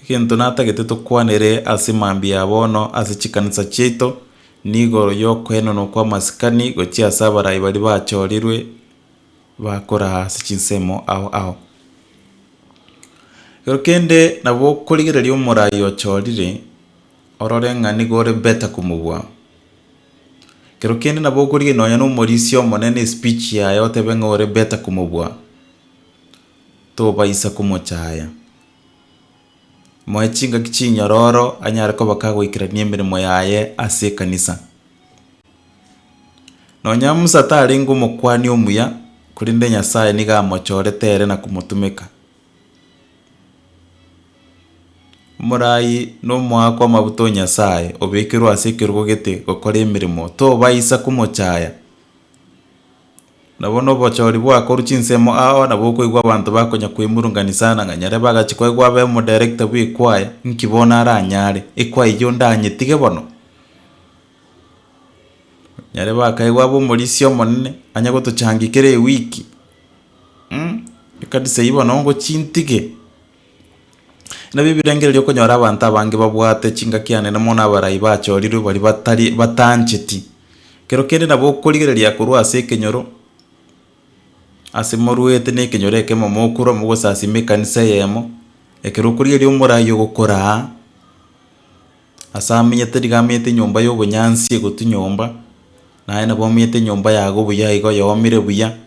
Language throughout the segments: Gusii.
egento natagete tokwanere ase mambia ya bono ase chikanisa chiaito, nigo yokoenenwa kw'amasikani gochia ase abarai baria bachorirwe bakoraa ase chinsemo ao ao. Ekero kende nabo okorigereria omorai ochorire orore ng'a nigo ore better komobua. Ekero kende nabo okorigereria nonye na omorisia omonene espeech yaye otebe ng'a ore better komobua. tobaisa komochaya. Moe chingaki chinyororo anyare koba kagoikerania emeremo yaye ase ekanisa. Nonya Musa tarenge omokuani omuya, korende Nyasaye nigo amochorete ere na komotumeka. Omoraai na omoa kw'amabuta o Nyasaye obekerwe ase ekerogo gete gokora emeremo, tobaisa komochaya. Nabo nobochori bwakorwa chinsemo ao nabo okoigwa abanto bakonya koimurungania sana ng'a nyare bagache koegwa abe omoderekita bw'ekwaya, nki bono aranyare? Ekwaya eyio ndanyetige bono? Nyare bakaegwa abe omorisia omonene, anye gotochangia kera ewiki, ekanisa eyio bono ngochie ntige? Nabio ebirengererio okonyora abanto abange babwate chingaki anene mono abarai bachorirwe baria batari batancheti. Ekero kende nabo okorigereria korwa ase ekenyoro ase morwete na ekenyoro ekemo mokure mogosasima ekanisa eyemo, ekero okorigereria omoraai ogokora aa ase amenyete nigo amenyete enyomba ya obonyansi egotu nyomba, naye nabo amenyete enyomba yago buya igo yomire buya.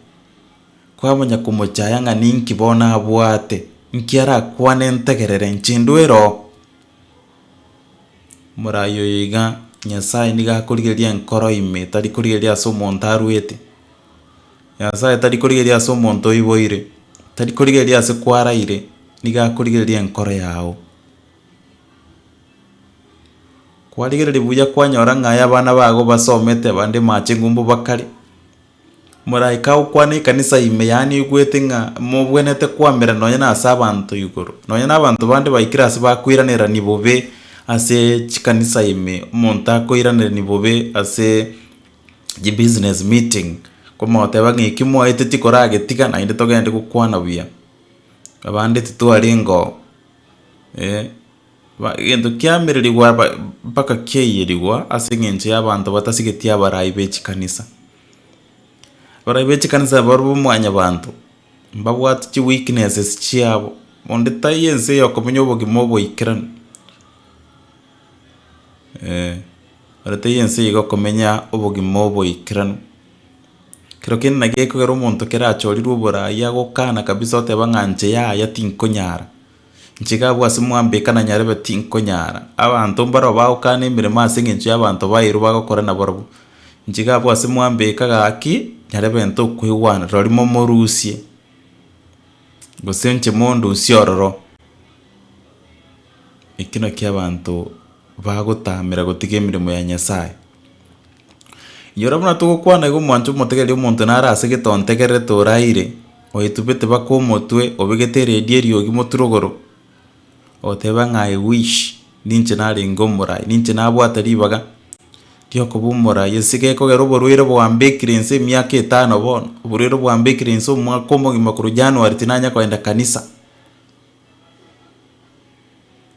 Kwabanya komochaya ng'a ninki bono abwate, nki arakwane ntegerere nchindwe ero? Morai oyo iga Nyasae nigo akorigereria enkoro ime, tari korigereria ase omonto arwete. Nyasae tari korigereria ase omonto oiboire, tari korigereria ase kwaraire, nigo akorigereria enkoro yago. Kwarigereria buya kwanyora ng'a aye abana bago basomete, abande machengo mbobakare. Moraika agokwana ekanisa ime yaye neigwete ng'a mobwenerete koamera nonye nase abanto igoro, nonye nabanto bande baikire ase bakoiranerani bobe ase chikanisa ime, omonto akoiranerani bobe ase chibusiness meeting, komoteba ng'a eki mwaeteti koragetiga naende togende gokwana buya, abande titwarengeo eh. Egento kiamererigwa mpaka kiaiyerigwa ase eng'encho y'abanto batasigetie abarai be chikanisa. Abarai be chikanisa barobwo mwanyabanto, mbabwate chi weaknesses chiabo, onde taiyo ense eye okomenya obogima oboikeranu, eeh, onde taiyo ense eye okomenya obogima oboikeranu. Kero kende naki gekogera omonto kero achorirwe oborai agokana kabisa oteba ng'a inche yaya tinkonyara. Nchika abwo ase mwambe ekana nyarebe tinkonyara. Abanto mbarao bagokana emeremo ase engencho y'abanto baeirwe bagokora nabarabwo. Nchika abwo ase mwambe eka gaki nyarebe ntokwegwana rori momorusie gose nche mondusie ororo. Eki nakio abanto bagotamera gotiga emeremo ya Nyasaye. Inyora buna togokwana igo omwancho omotegereri omonto nare ase gete ontegererete oraire, oyetubete baka omotwe, obegete eredi eriogi moturogoro, oteba ng'a I wish ninche narenge omorai, ninche nabwate ribaga riokoba omorai, ase gekogera oborwaire bwambekire inse emiaka etano bono, oborwaire bwambekire inse omwaka omogima korwa January tinanya kogenda kanisa.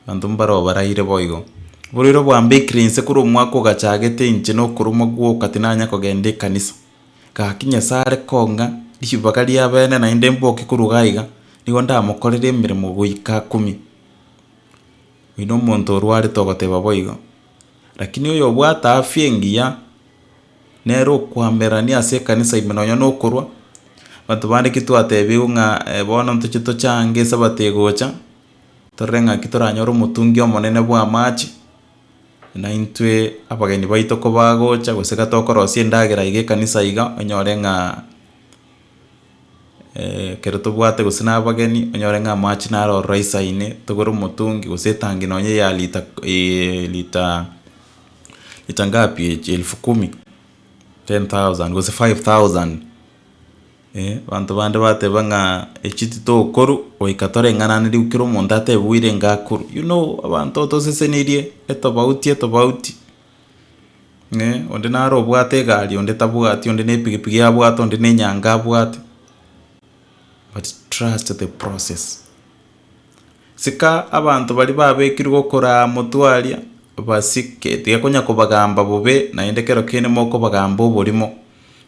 Abanto mbaro baraire boigo. Oborwaire obwambekire inse korwa omwaka ogachagete inche na okoromwa gwoka tinanya kogenda ekanisa. Gaki Nyasae are kong'a ribaga ria bene naende mboke korwa iga iga, nigo ndamokorere emeremo goika akumie. Oino omonto orwarete ogoteba boigo. Lakini oyobwate afya engiya nere okoamererania ase ekanisa ime nonya nokorwa, abanto bande ki twatebigwe ng'a bono ntoche tochange esabato egocha, torore ng'aki toranyore omotungi omonene bw'amache, naintwe abageni baito kobagocha gose iga tokorosia endagera iga ekanisa iga, onyore ng'a. ekero tobwate gose na abageni, onyore ng'a amache naro ororo ice ime, togore omotungi gose etangi nonya ya lita lita lita ngapi echi elfu kumi, ten thousand gose five thousand, eh abanto bande bateba ng'a echi titokoru goika toreng'anane riku kera omonto atebe boirenga akoru, you know abanto otosesenirie etobauti etobauti. eh, onde naro obwate egari onde tabwati, onde ne epigipigi abwate, onde ne enyanga abwate, but trust the process. Sika abanto baria babekirwe gokora aa motwe aria, obasike tigekonya kobagamba bobe, naende ekero kende mokobagamba oborimo,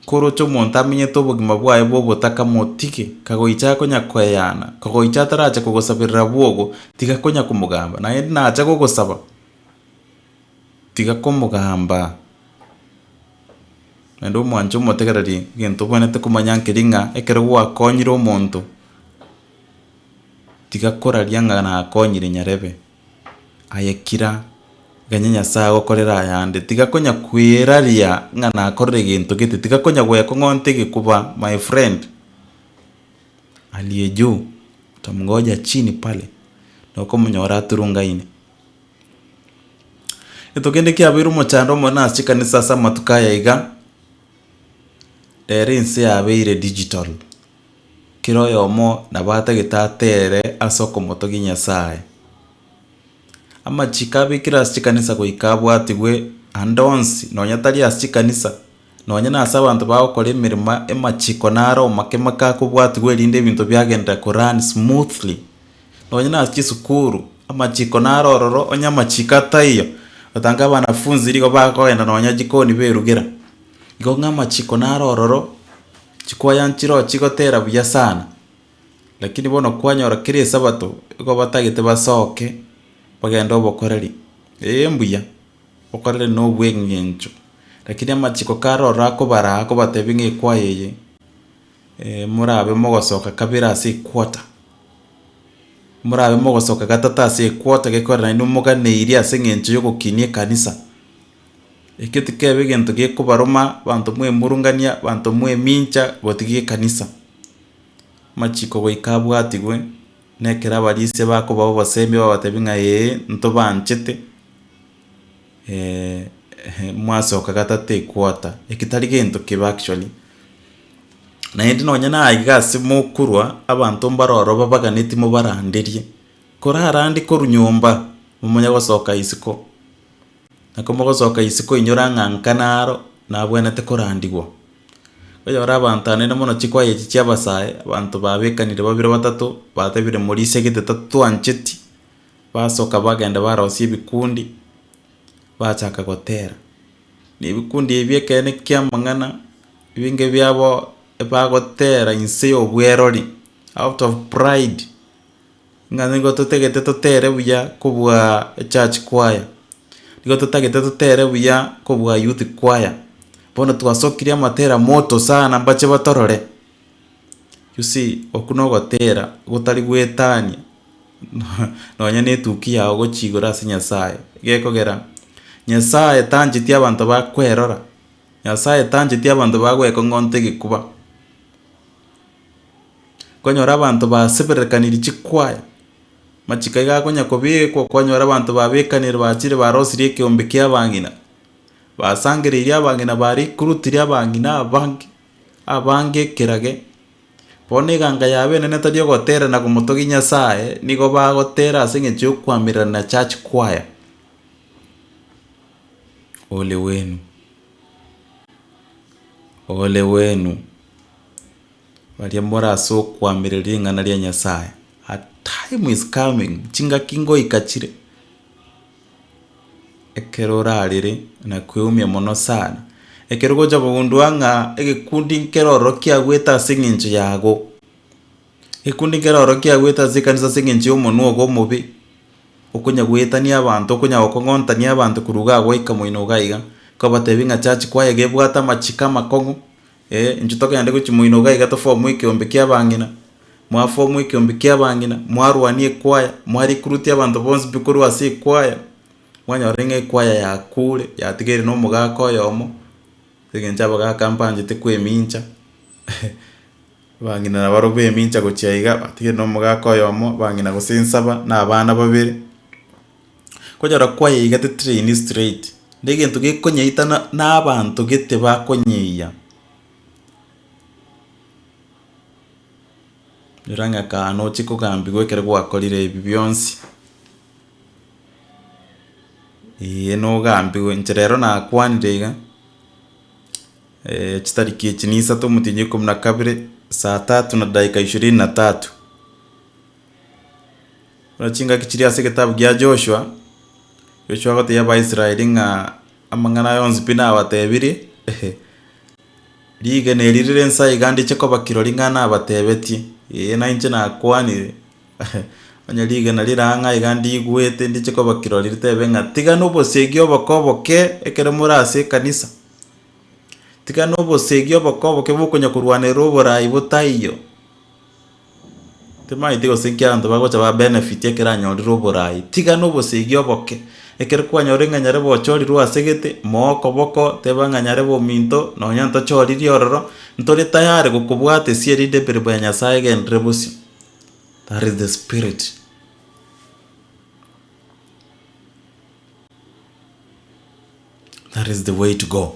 koroche omonto amenyete obogima bwaye bwa obotaka motige, kagoicha akonya koeyana, kagoicha ataracha kogosaberera bwogo, tiga konya komogamba, naende nacha gogosaba. tiga komogamba, naende omwanche omotegereri egento obwenerete komanya keria ng'a ekero gwakonyire omonto, tiga koraria ng'a nakonyire nyarebe, aye kira ganye Nyasaye agokorere ayande, tiga konya kweraria ng'a nakorire egento gete, tiga konya gwekong'onta egekuba my friend aliye juu utamngoja chini pale, nokomonyora aturungaine. Getogende kiabeire omochando omonene ase chikanisa ase amatuko aya iga, rero ense yabeire digital, kera oyomo nabo atagete atere ase okomotogia Nyasaye. Amachiko abekire ase chikanisa goika abwatigwe ande onsi, nonya tari ase chikanisa. Nonya nase abanto bagokora emeremo emachiko naro omakemo kakobwatigwa erinde ebinto biagenderere ko run smoothly. Nonya nase chisukuru, amachiko naro ororo onye amachiko ataiyo, otange abanafunzi nigo bakogenda nonya jikoni berugera. Igo ng'a amachiko naro ororo, chikwaya nchiroo chigotera buya sana, lakini bono kwanyora kera esabato, igo batagete basoke bagende obokoreri, eeh mbuya. okorere nobweng'encho, lakini amachiko kare ororo akobaraa akobatebia ng'a ekwaya eye morabe mogosoka kabere ase equarter, morabe mogosoka gatato ase equarter gekorera naende omoganeirie ase eng'encho ya ogokinia ekanisa. Ekio tikebe egento gekobaroma abanto mwaemurungania abanto mwaemincha gotiga ekanisa, amachiko goika abwatigwe na ekero abarisia bakobao obosemi babatebi ng'a ee ntobaanchete mwasoka gatata equarter, eki tari gento kibe actually, naende nonye naye iga ase mokorwa abanto mbare ororo babaganeti mobaranderie, korarande korwa nyomba momonye gosoka isiko, na komogosoka isiko inyora ng'a nka naro nabwenerete korandigwa. Oyore abanto aye naende mono chikwaya echi chi'abasae, abanto babekanire babere batato batebire morisegete tatwancheti. Basoka bagenda barosia ebikundi, bachaka gotera. Na ebikundi ebi ekero nekia amang'ana, ebinge biabo bagotera inse y'obwerori, out of pride, ng'a nigo totagete totere buya kobua echurch choir, nigo totagete totere buya kobua youth choir, bono twasokire amatera moto sana mbache batorore. You see, okwo na ogotera gotari goetania nonya na etukia yao gochia igoro ase Nyasaye, gekogera Nyasaye tancheti abanto bakwerora, Nyasaye tancheti abanto bagoekong'onta egekuba. Konyora abanto baseberekaniri chikwaya, machiko iga akonya kobekwa kwanyora abanto babekanire bachire barosirie ekeombe kia abang'ina, basangereirie abang'ina ba recruit ria abang'ina abange, abange ekerage, bono eganga yabeene tari ogotera na komotogia Nyasaye, nigo bagotera ase eng'encho ya okoamererana na church choir, ole wenu, ole wenu, baria mbore ase okoamerera ring'ana ria Nyasaye, a time is coming, chingaki ngoika chire. Ekero orarere na kweumia mono sana, ekero ogocha kogundua ng'a egekundi nkere ororo kiagoete ase eng'encho yago, egekundi nkere ororo kiagoete ase ekanisa ase eng'encho ya omonwa ogo omobe, okonya goetania abanto, okonya gokong'ontania abanto korwa iga goika moino iga iga, kobatebi ng'a church kwaye iga ebwate amachiko amakong'u. Ee, inchuo togende gochimoinoka iga tofomu ekeombe ki'abang'ina. Mwafomu ekeombe ki'abang'ina, mwarwania ekwaya, mwarikurutia abanto bonsi pi korwa ase ekwaya, mwanyorire ng'a ekwaya yakuure, yatigaire nomogaka oyomo, ase eng'encho abagaka mbanchete kwemincha, abang'ina nabarobwo emincha gochia iga, batigaire nomogaka oyomo, abang'ina gose nsaba, na abana babere. Konyora kwayeigatete train straight negento gekonyeita na abanto gete bakonyeia. Nyora ng'a ekano oche kogambigwa ekero gwakorire ebi bionsi, eeh nogambigwe inche rero nakwanire iga chitariki echi ne isato omotienyi ikomo na kabere saa tatu na dakika ishirini na tatu. Buna chingaki chiri ase egetabu gia Joshua, Joshua agoteebia Abaisraeli ng'a amang'ana aya onsi pi nabatebirie, rigena eri rire inse aiga ndiche koba kirori ng'a nabatebetie, ee nainche nakwanire, onye rigena rire ang'e aiga ndigwete ndiche koba kirori ritebe ng'a tigana obosegi oboke oboke ekero more ase ekanisa, tigana obosegi oboke oboke bokonya korwanerera oborai botaiyo. Timaeti gose inki abanto bagocha ba benefit ekero anyorire oboraai, tiga nobosegi oboke. Ekero kwanyora ng'a nyarebe ochorirwe ase gete, moa okoboko teba ng'a nyarebe ominto nonya ntochoririe ororo, ntori tayari gokobwatesia erinde emeremo ya Nyasae egenderere bosio. That is the spirit. That is the way to go.